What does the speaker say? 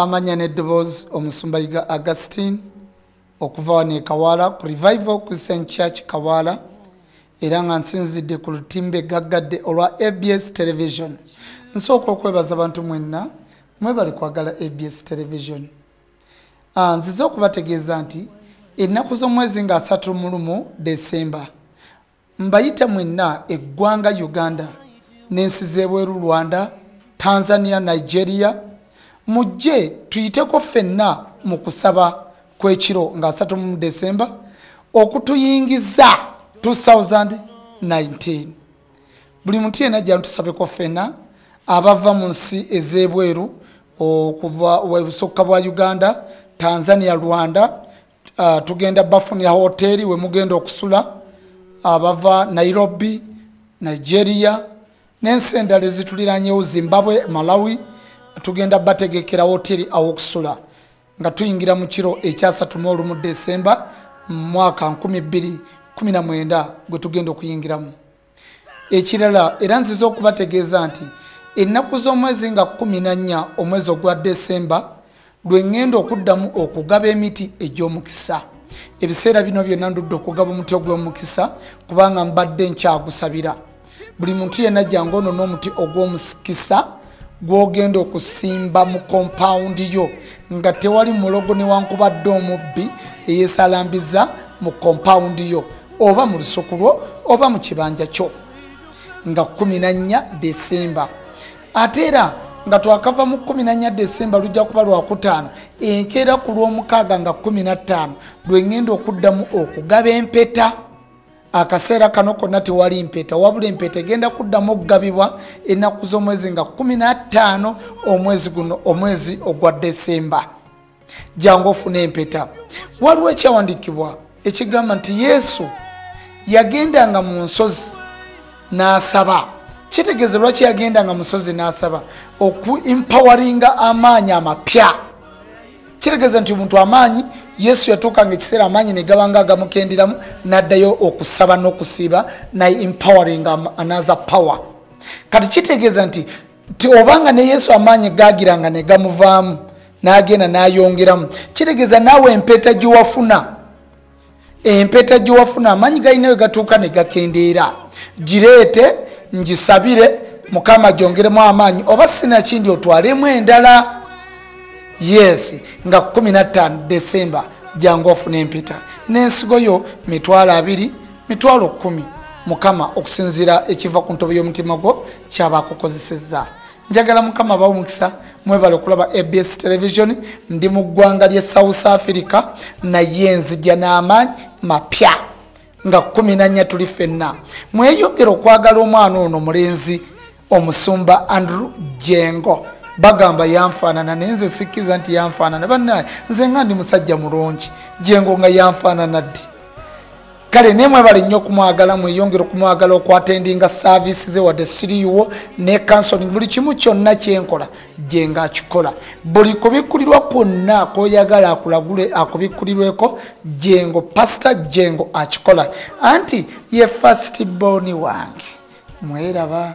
amanya n'eddoboozi omusumba yiga augustin okuva wano e kawaala ku revival christian church kawaala era nga nsinzidde ku lutimbe gaggadde olwa abs television nsooka okwebaza abantu mwenna mwebali kwagala abs television ah, nzize okubategeeza nti ennaku z'omwezi nga asatu mulumu desemba Mbayita mwenna eggwanga Uganda n'ensi z'ebweru Rwanda, Tanzania, Nigeria, mujje tuyiteko ffenna mu kusaba kw'ekiro nga asatu mu December okutuyingiza 2019. Buli muntu yenna ajja ntusabeko ffenna abava mu nsi ez'ebweru okuva ebusukka bwa Uganda, Tanzania, Rwanda, uh, tugenda bafunira hoteeri we mugenda okusula abava uh, nairobi nigeria n'ensi endala ezituliranyewo zimbabwe malawi tugenda bategekera hoteeri awokusula nga tuyingira mu kiro ekyasatu mu olumu desemba mu mwaka 219 gwe tugenda okuyingiramu ekirala era nziza okubategeeza nti ennaku z'omwezi nga kumi na nnya omwezi ogwa desemba lwe ŋŋenda okuddamu okugaba emiti egy'omukisa ebiseera bino byonna ndudde okugaba omuti ogw'omukisa kubanga mbadde nkyagusabira buli muntu yenna jangu ono n'omuti ogw'omukisa gwogenda okusimba mu kompawundi yo nga tewali mulogo newankubadde omubbi eyesalambiza mu kompawundi yo oba mu lusuku lwo oba mu kibanja kyo nga 14 desemba ate era nga twakava mu 14 desemba lujja kuba lwakutaano enkeera ku lw'omukaaga nga 15 lwengenda okuddamu okugaba empeta akaseera kano konna tewali mpeta wabula empeta egenda kuddamu okugabibwa ennaku z'omwezi nga 15 omwezi guno omwezi ogwa desemba jangu ofuna empeta waliwo ekyawandikibwa ekigamba nti yesu yagendanga mu nsozi n'asaba kitegeeze lwaki yagendanga musozi n'asaba okuimpawaringa amaanyi amapya kitegeeza nti omuntu amaanyi yesu yatuuka nga ekiseera amaanyi ne gabanga agamukenderamu n'addayo okusaba n'okusiiba naye empowering another power kati kitegeeza nti ti obanga ne yesu amaanyi gaagiranga ne gamuvaamu n'agenda n'ayongeramu kitegeeza naawe empeeta gye wafuna empeta gyewafuna amaanyi galina we gatuuka ne gakendeera gireete ngisabire mukama gyongeremu amaanyi oba sinakindi otwalemu endala yes nga 15 december jangu ofuna empeta n'ensigo yo mitwalo abiri mitwalo kumi mukama okusinziira ekiva ku ntobo y'omutima gwo kyaba akukozesezza njagala mukama abawo mukisa mwebale okulaba abs television ndi mu ggwanga lye south africa naye nzija n'amaanyi mapya nga kumi nanya tuli fenna mweyongere okwagala omwana ono mulenzi omusumba andrew jengo bagamba yanfaanana naye nze sikkiza nti yanfaanana banaye nze nga ndi musajja mulungi jengo nga yanfaanana ddi kale naye mwebale nnyo okumwagala mweyongere okumwagala okwatendinga saaviisi ze wadde siriiwo ne kansoning buli kimu kyonna kyenkola gye nga akikola buli kubikkulirwa kwonna kwoyagala akulagule akubikkulirweko jengo pasita jengo akikola anti ye fasiti booni wange mweraba